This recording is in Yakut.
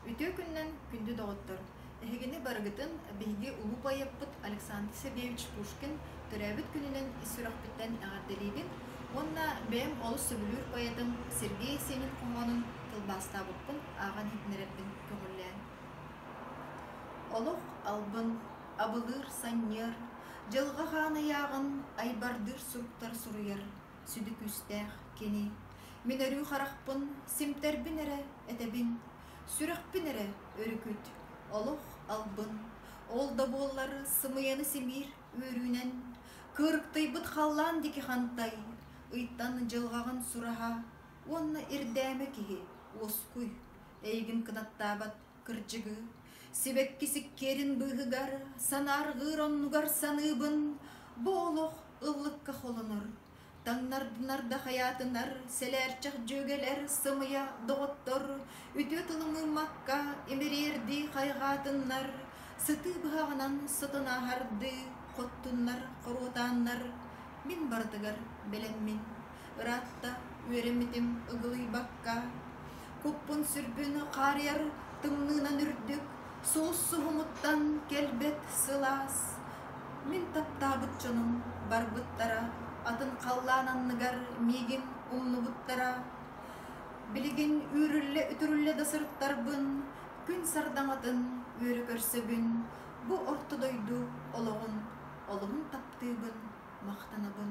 Үтүө күннэн, күндү доҕоттор! Эһигини барыгытын биһиги улуу поэппыт Александр Сергеевич Пушкин төрөөбүт күнүнэн ис сүрэхпиттэн эҕэрдэлиибин уонна бэйэм олус сөбүлүүр поэтым Сергей Есенин хоһоонун тылбаастаабыккын ааҕан иһитиннэрэрбин көҥүллээн. Олох албын, абылыыр, санньыар, дьылҕа хаан ыйааҕын айбардыыр суруктар суруйар сүдү күүстээх кини. Мин өрүү харахпын симтэрбин эрэ этэбин, сүрэхпин эрэ өрүкүт, олох албын. Ол да буоллар сымыйаны симиир үөрүүнэн, кырыктыйбыт халлаан диэки хантай, ыйтан дьылҕаҕын сураһа уонна ирдээмэ киһи уоскуй, эйигин кынаттаабат Кырдьыгы, сибэккис иккиэрин быыһыгар санаарҕыыр оннугар саныыбын, бу олох ыллыкка холонор, таҥнарданарда хайаатынар сэлээрчэх дьүөгэлэр сымыйа доҕоттор үтүө тылы мыыммакка имириэрдии хайҕаатыннар, сытыы быһаҕынан сотунааһардыы хоттуннар хоруотааннар, мин барытыгар бэлэммин. Ыраатта үөрэммитим ыгылыйбакка, куппун-сүрбүн хаарыйар тымныынан үрдүк, суус-суһумуттан кэлбэт сылаас. Мин таптаабыт дьонум барбыттара, атын халлаан анныгар миигин умнубуттара. Билигин үүрүллэ-үтүрүллэ да сырыттарбын, күн сардаҥатын үөрэ көрсөбүн, бу орто дойду олоҕун, олуһун таптыыбын, махтанабын.